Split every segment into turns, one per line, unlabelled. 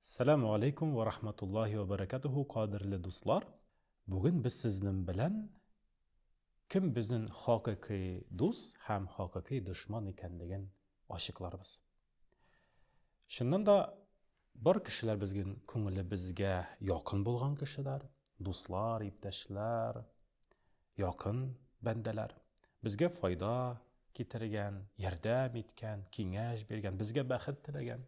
Сәләмү алейкум вә рахматуллахи вә бәрәкәтүһү, кадерле дуслар! Бүген без сезнең белән кем безнең хакыйкый дус һәм хакыйкый дошман икәнлеген ачыкларбыз. Чыннан да бар кешеләр безнең күңелебезгә якын булган кешеләр, дуслар, иптәшләр, якын бәндәләр. Безгә файда китергән, ярдәм иткән, киңәш биргән, безгә бәхет теләгән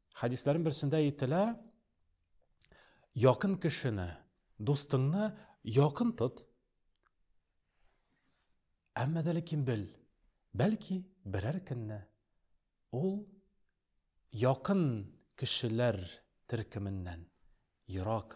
Хәдисләрнең берсендә әйтелә, якын кешене, дустыңны якын тот. Әмма дә ләкин бел, бәлки берәр көнне ул якын кешеләр төркеменнән ерак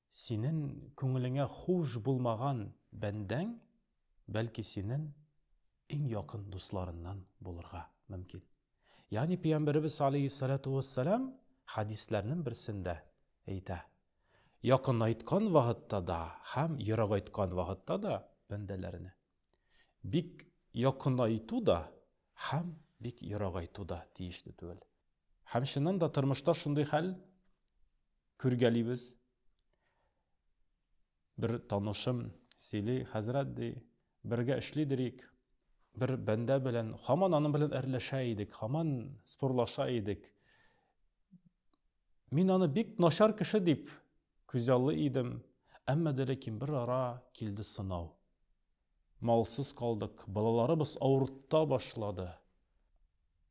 Синен күңелеңә хуш булмаган бәндәң, бәлки, синен иң якын дусларыннан булырга мөмкин. Ягъни Пәйгамбәребез галәйһиссәләтү уәссәлам хәдисләрнен берсендә әйтә, Якынайткан вакытта да һәм ерагайткан вакытта да бәндәләрне, бик якынайту да һәм бик ерагайту да тиешле түгел. Һәм чыннан да тормышта шундый хәл. Күргәлибез. Бер танышым сөйли, хәзрәт ди, бергә эшли дирик. Бер бәндә белән, хаман аның белән әрләшә идек, хаман спорлаша идек. Мин аны бик начар кеше дип күзаллый идем, әмма дә ләкин бер ара килде сынау. Малсыз калдык, балаларыбыз авырта башлады.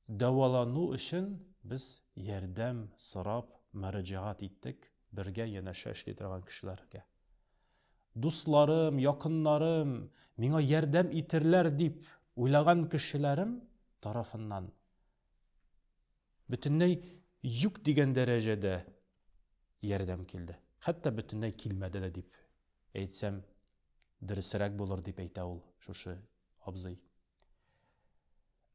Дәвалану өчен без ярдәм сорап мөрәҗәгать иттек бергә янәшә эшли торган кешеләргә. Дусларым, якыннарым, миңа ярдәм итерләр дип уйлаган кешеләрем тарафыннан бөтенләй юк дигән дәрәҗәдә ярдәм килде. Хәтта бөтенләй килмәде дә дип Әйтсәм, дөресрәк булыр, дип әйтә ул шушы абзый.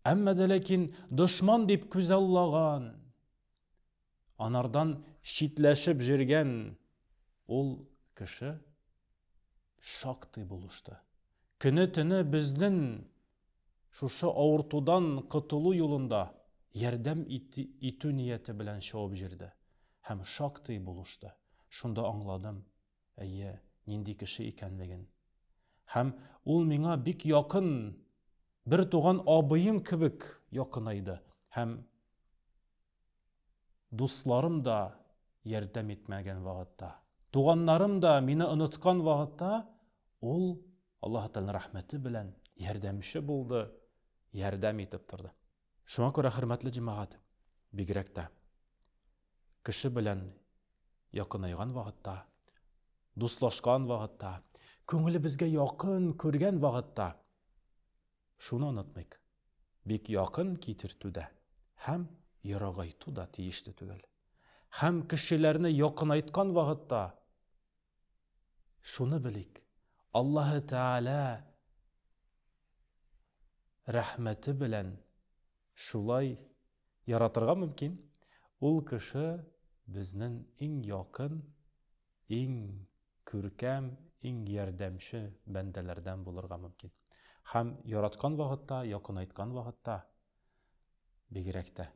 Әмма дә ләкин дошман дип күзаллаган, анардан читләшеп җөргән ул кеше шактый булышты. Көне-төне безнен шушы авыртудан котылу юлында ярдәм итү нияте белән чабып җөрде һәм шактый булышты. Шунда аңладым, әйе, нинди кеше икәнлеген. Һәм ул миңа бик якын, бер туган абыем кебек якынайды һәм дусларым да ярдәм итмәгән вакытта, туганнарым да мине оныткан вакытта ул Аллаһ Тәгаләнең рәхмәте белән ярдәмче булды, ярдәм итеп торды. Шуңа күрә, хөрмәтле җәмәгать, бигрәк тә кеше белән якынайган вакытта, дуслашкан вакытта, күңелебезгә якын күргән вакытта шуны онытмыйк. Бик якын китертү дә һәм ерагайту да тиешле түгел. Һәм кешеләрне якынайткан вакытта Шуны белик, Аллаһы Тәгалә рәхмәте белән шулай яратырга мөмкин, ул кеше безнең иң якын, иң күркәм, иң ярдәмче бәндәләрдән булырга мөмкин. Һәм яраткан вакытта, якынайткан вакытта Бигрәк тә,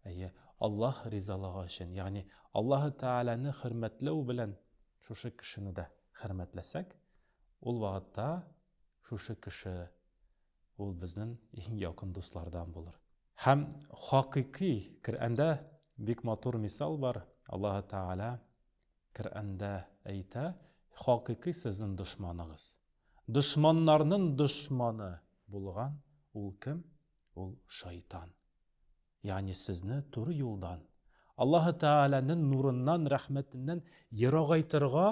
әйе, Аллаһ ризалыгы өчен, ягъни Аллаһы Тәгаләне хөрмәтләү белән шушы кешене дә хөрмәтләсәк, ул вакытта шушы кеше ул безнең иң якын дуслардан булыр. Һәм хакыйкый, Коръәндә бик матур мисал бар, Аллаһы Тәгалә Коръәндә әйтә, хакыйкый сезнен дошманыгыз. Дошманнарнын дошманы булган ул кем? Ул шайтан. Ягъни сезне туры юлдан, Аллаһы Тәгаләнен нурыннан, рәхмәтеннән ерагайтырга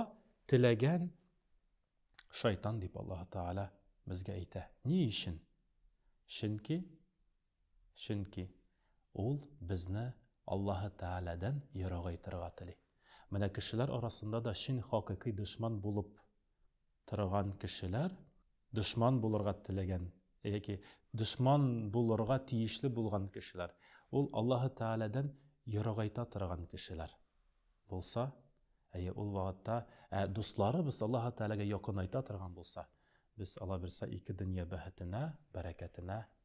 теләгән шайтан дип Аллаһы Тәгалә безгә әйтә. Ни өчен? Чөнки Чөнки ул безне Аллаһы Тәгаләдән ерагайтырга тели. Менә кешеләр арасында да чын хакыйкый дошман булып торган кешеләр, дошман булырга теләгән яки дошман булырга тиешле булган кешеләр, ул Аллаһы Тәгаләдән ерагайта торган кешеләр булса, әйе, ул вакытта, ә дусларыбыз Аллаһы Тәгаләгә якынайта торган булса, без, аллабирса, ике дөнья бәхетенә, бәрәкәтенә